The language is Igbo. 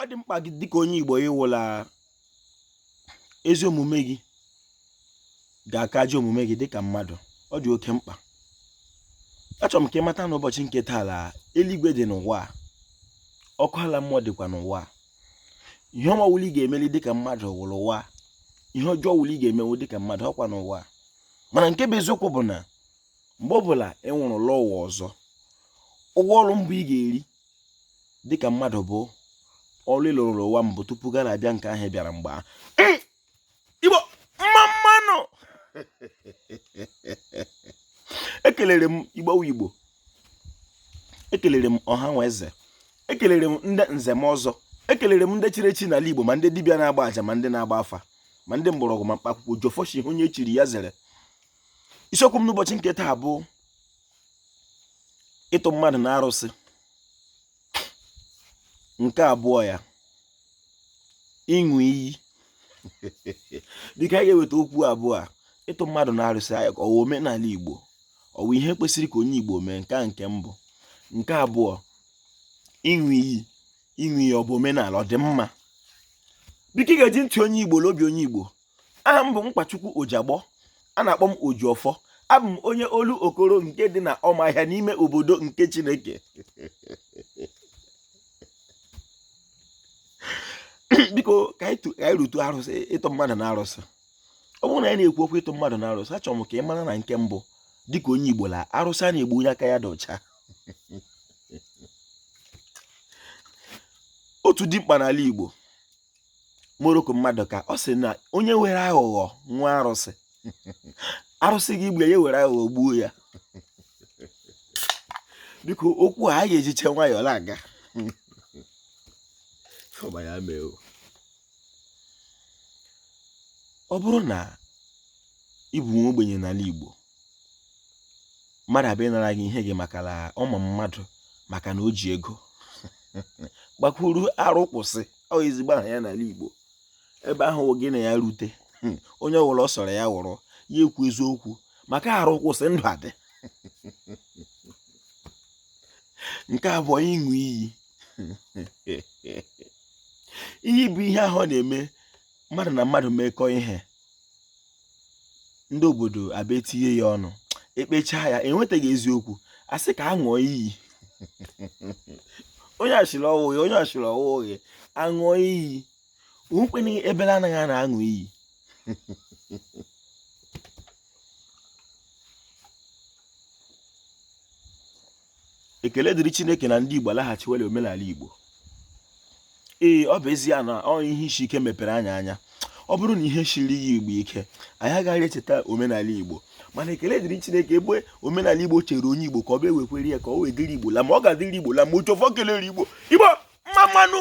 ọ dị mkpa gị dịka onye Igbo ịhụ la ezi omume gị ga-aka ajọ omume gị dịka mmadụ ọ dị oke mkpa achọrọ m ka ị mata n'ụbọchị nke taa la eluigwe dị n'ụwa ọkụ ala mmụọ dịkwa n'ụwa ihe ọma ọwụla ị ga-emeli dịka mmadụ wụ l'ụwa ihe ọjọọ ọwụla ị ga-emenwu dịka mmadụ ọkwa n'ụwa mana nke bụ eziokwu bụ na mgbe ọbụla ị nwụrụ lọọ ụwa ọzọ ụgwọ ọrụ mbụ ị ga-eri dịka mmadụ bụ ọrụ ị lụrụ n'ụwa mbụ tupu gị na-abịa nke ahụ ị bịara mgbe a igbo mma mma nụ ekelere m igbo igbo ekelere m ọha na eze ekelere m ndị nze na ọzọ ekelere m ndị chiri echi n'ala igbo ma ndị dibịa na-agba aja ma ndị na-agba afa ma ndị mgbọrọgwụ ma mkpa akwụkwọ ojiọfọ sị ihe onye chiri ya zere isiokwu m n'ụbọchị nke taa bụ ịtụ mmadụ na arụsị nke abụọ ya ịṅụ iyi dịka anyị ga-eweta okwu abụọ a ịtụ mmadụ na arụsị ọ wụ omenala igbo ọ wụ ihe kwesịrị ka onye igbo mee nke a nke mbụ nke abụọ ịṅụ iyi ịṅụ iyi ọ bụ omenala ọ dị mma biko ị ga-eji ntị onye igbo la obi onye igbo aha m bụ Nkwachukwu Ojiagbọ a na-akpọ m Ojiọfọ abụ m onye Olokoro nke dị na Ọmahịa n'ime obodo nke Chineke biko ka anyị rutu arụsị ịtụ mmadụ na arụsị ọ bụrụ na anyị na-ekwu okwu ịtụ mmadụ na arụsị achọrọ m ka ị mara na nke mbụ dịka onye Igbo la arụsị anaghị egbu onye aka ya dị ọcha otu dimkpa n'ala Igbo Morocco Maduka ọ sị na onye were aghụghọ nwaa arụsị arụsị ga-egbu ya were aghụghọ gbuo ya biko okwu a anyị ga-ejicha nwayọọ na-aga ọ bụrụ na ị bụ nwa ogbenye n'ala Igbo mmadụ abịa nara gị ihe gị maka na ọ ma mmadụ maka na o ji ego gbakwuru arụ kwụsị ọ ezigbo aha ya n'ala Igbo ebe ahụ gị na ya rute hmm, onye ọwụla ọ sọrọ ya wụrụ ya kwuo eziokwu maka arụ kwụsị ndụ adị nke abụọ ịṅụ iyi iyi bụ ihe ahụ na-eme mmadụ na mmadụ mekọọ ihe ndị obodo abịa etinye ya ọnụ ekpechaa ya enwetaghị eziokwu a sị ka a ṅụọ iyi onye a sịrị ọ wụghị onye a sịrị ọ wụghị aṅụọ iyi onwekwenye ebele anaghị a na-aṅụ iyi ekele dịrị chineke na ndị igbo alaghachiwela omenala igbo ee ọ bụ ezie na ọ ihe isi ike mepere anyị anya ọ bụrụ na ihe esighị igbo ike anyị agaghị echeta omenala igbo mana ekele dịrị chineke ebe omenala igbo chere onye igbo ka ọ bụ ewekwere ya ka ọ wee dịrị igbo la mma ọ ga-adịrị igbo la mma ụjọfọ kelere igbo igbo mma mma nụ